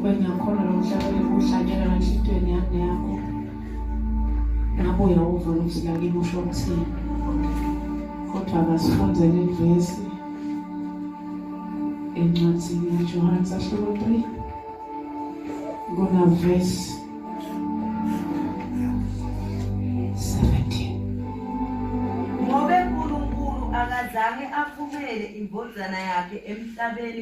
Wena khona lo mhlaba uhlanyela enhlitweni yami neyakho. Nabuya uva ukuthi lakini usho ukuthini. Kodwa akasifundele ivesi encwadzini yaJohane sahluko 3 kunavesi akazange aphumele imbodlana yakhe emhlabeni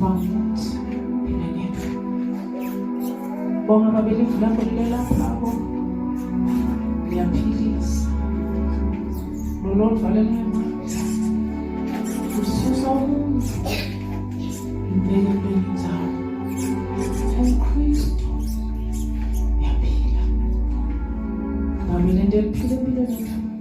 Bafuthi, ngenethu. Bonga mabelivu lakho lilelaphako. Liyaphilisa. Lolodwa lenema. Ususa umuntu. Impela impela inzalo. UKristu. Yaphila. Nami lento eliphila empilweni yethu.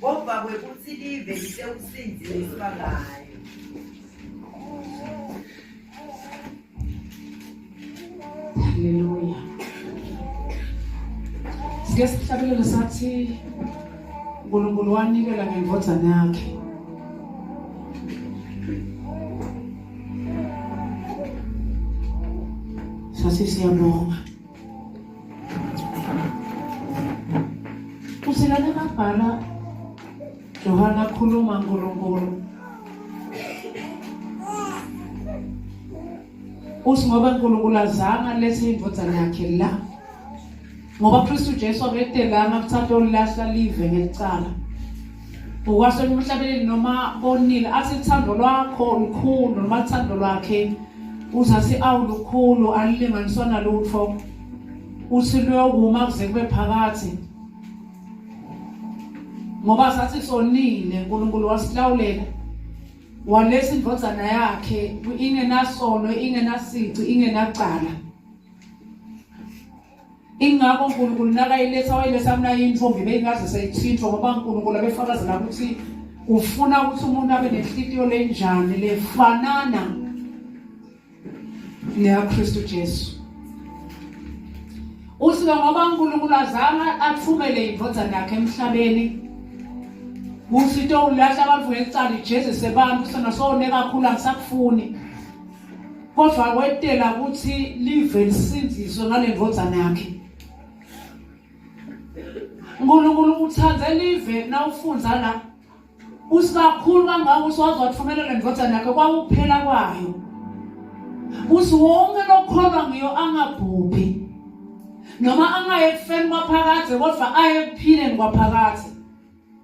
Kodwa kwekuthi live lisekusindile isibangane. Haleluya. Sike sihlabelele sathi uNkulunkulu wanikela ngendodana yakhe. Sathi siyabonga. Usilane mabhala Johana khuluma Nkulunkulu uthi ngoba uNkulunkulu azange alethe indvodzana yakhe la ngoba Kristu Jesu abetelanga kuthatha olilahla live ngelicala Ngokwasona emhlabeni noma konile athi uthando lwakho lukhulu noma uthando lwakhe uzathi awu lukhulu alilinganiswa nalutho uthi luyokuma kuze kube phakathi ngoba sathi sonile uNkulunkulu wasilawulela walesa indvodzana yakhe ingenasono ingenasici ingenacala ingakho unkulunkulu nakayiletha wayiletha mna intombi beyingaze seyithintwa ngoba unkulunkulu abefakazela ukuthi ufuna ukuthi umuntu abe nenhlitiyo lenjani lefanana neyakristu jesu usike ngoba unkulunkulu azange athumele indodana yakhe emhlabeni ukuthi into ulahla abantu ngecala ijezise abantu sona sone kakhulu angisakufuni kodwa wetela ukuthi live lisindiswe ngale ndvodzana yakhe uNkulunkulu uthanda live nawufunda la usikakhulu kangaka usiwazi wathumela le ndvodzana yakhe kwakuphela kwayo uthi wonke lokholwa ngiyo angabhubhi noma angaye ekufeni kwaphakade kodwa aye ekuphileni kwaphakade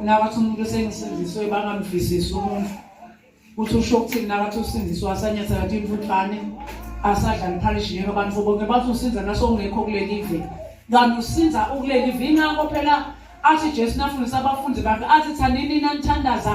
nakathi umuntu esengisindiswe bangamvisisi umuntu ukuthi usho ukuthini nakathi usindiswe asanyathela athi imfutshane asadla liphalishi ngeke abantu bonke bathi usiza naso ungekho kuleli ive kanti usiza ukuleli ive ingakho phela athi jesu nafundisa abafundi bakhe athi thanini nanithandaza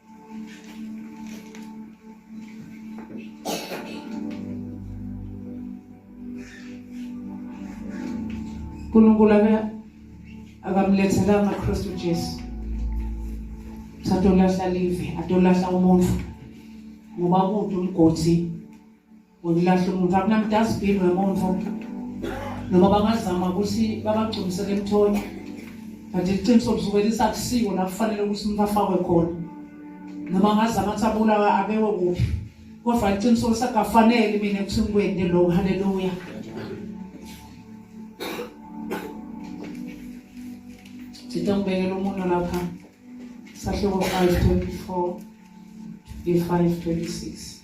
uNkulunkulu ake akamlethela amaKristu Jesu satolahla live atolahla umuntu ngoba kude umgodi ngokulahle umuntu akunamdasbin wemonto noma bangazama ukuthi babagcumisele emthoni but iqiniso kusuke lisakusiwo la kufanele ukuthi umuntu afakwe khona noma ngazama ukuthi abulawa abewe kuphi kodwa iqiniso lisakafanele mina ekuthini kwende loku haleluya sithe ngibekela umuntu lapha sahluko 5 24 25 26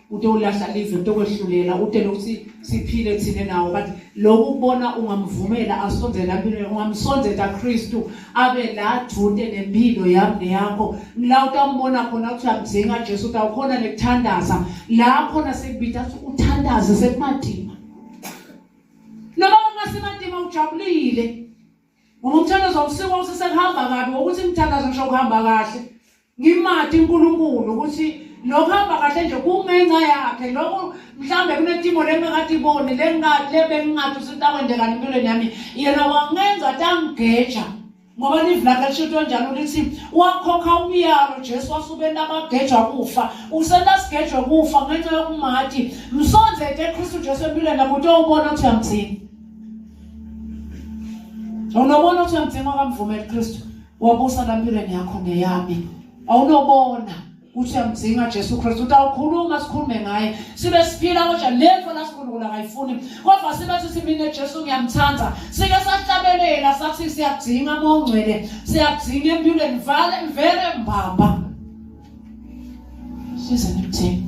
ute ulahla live ute kwehlulela ute lokuthi siphile thina nawo but lokhu kubona ungamvumela asondela empilweni ungamsondela Kristu abe la dude nempilo yami neyakho la utambona khona ukuthi amdzinga Jesu utawukhona nekuthandaza la khona sekubida ukuthi uthandaze sekumadima noma ungasemadima ujabulile ngoba umthandazo awusikho usesekuhamba kabi ngokuthi ngithandaza ngisho kuhamba kahle ngimade uNkulunkulu ukuthi lokho hamba kahle nje kungenxa yakhe lokho mhlambe kunetimo lengakade ibone lengikade lebengingathi usintakwendekani empilweni yami yena wangenza tangigeja ngoba live lakhe lishinto njalo lithi wakhokha umyalo Jesu wasubenta abagejwa kufa usenta sigejwe kufa ngenxa yokumati msonze ke Kristu Jesu empilweni nakuthi ubona ukuthi uyamthini Awunobona ukuthi uyamdinga kamvumela uKristu wabusa lampilweni yakho neyami. Awunobona ukuthi uyamdinga Jesu Kristu ukuthi awukhuluma sikhulume ngaye sibe siphila kodwa lento lasikhulula ngayifuni kodwa sibe sithi mina Jesu ngiyamthanda sike sahlabelela sathi siyadinga mongcwele siyadinga empilweni vale mvele mbamba size ngithini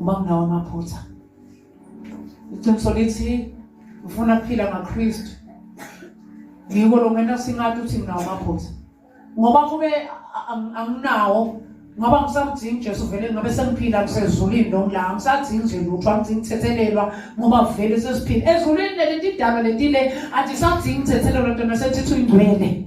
uma kunawo amaphutha iqiniso lithi ngifuna kuphila ngakristu ngiko lo ngena singathi uthi nginawo amaphutha ngoba kube anginawo ngoba ngisamdingi ujesu vele ngabe sengiphila ngisezulwini noma la ngisadingi nje lutho angidingi kuthethelelwa ngoba vele sesiphila ezulwini leli tidalwa letile andisadingi kuthethelelwa ntona sethithu ingcwele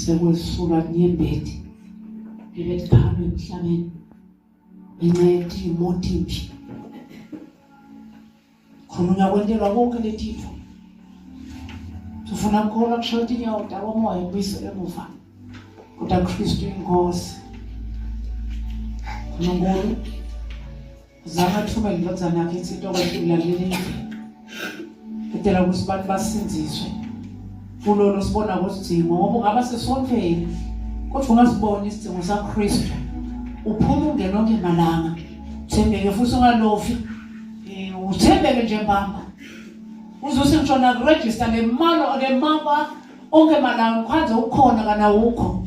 sekwesula kunyembeti ebetiphalwa emhlabeni ngenxa yokuthi imoto imbi khona ungakwentelwa konke letitho sifuna kukholwa kushoda inyawo dawa umoya ubiso emuva kodwa kristu inkosi nkulunkulu Zakathuma indodana yakhe ithi into kwendlula leli edela ukuthi abantu basindziswe kulolo sibona kusidingo ngoba ungaba sesontweni kodwa ungasibona isidingo sakristu uphuma ungena onke malanga thembeke futhi ungalofi eh, uthembeke nje mbamba uzothi ngisho nakurejista le malo le maba onke malanga ukhanze ukhona kana wukho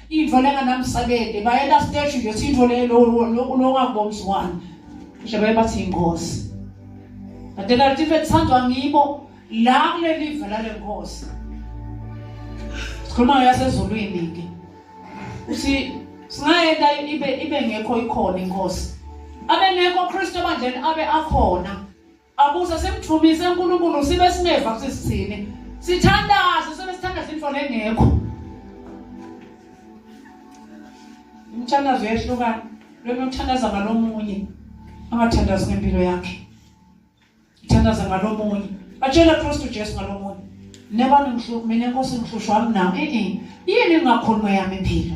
Into lenga namsakede bayela stage nje sitho le lo lokungabomzi wani. Nje bayebathi inkosi. Adela live lithandwa ngibo la kuleli vela lenkosi. Sikhuluma yasezulwini ke. Uthi singayenda ibe ibe ngekho ikhona inkosi. Abe ngekho Kristu bandleni abe akhona. Akuze simthumise uNkulunkulu sibe singeva ukuthi sithini. Sithandaze sibe sithandaza into lengekho. Umthandazo uyahlukana. Lo mthandaza ngalomunye. Angathandazi ngempilo yakhe. Thandaza ngalomunye. Batshela Kristu Jesu ngalomunye. Neba ngihluku mina Nkosi ngihlushwa mina. Eh eh. Yini ngakhuluma yami impilo?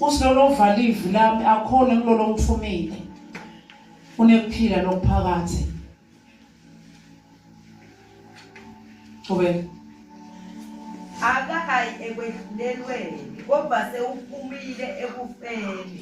usilolo ovala ivi lami akhona kulolo ngithumile unekuphila lokuphakathi Qhubeka. Akayi ekwedlulelweni kodwa sewuphumile ekufeni.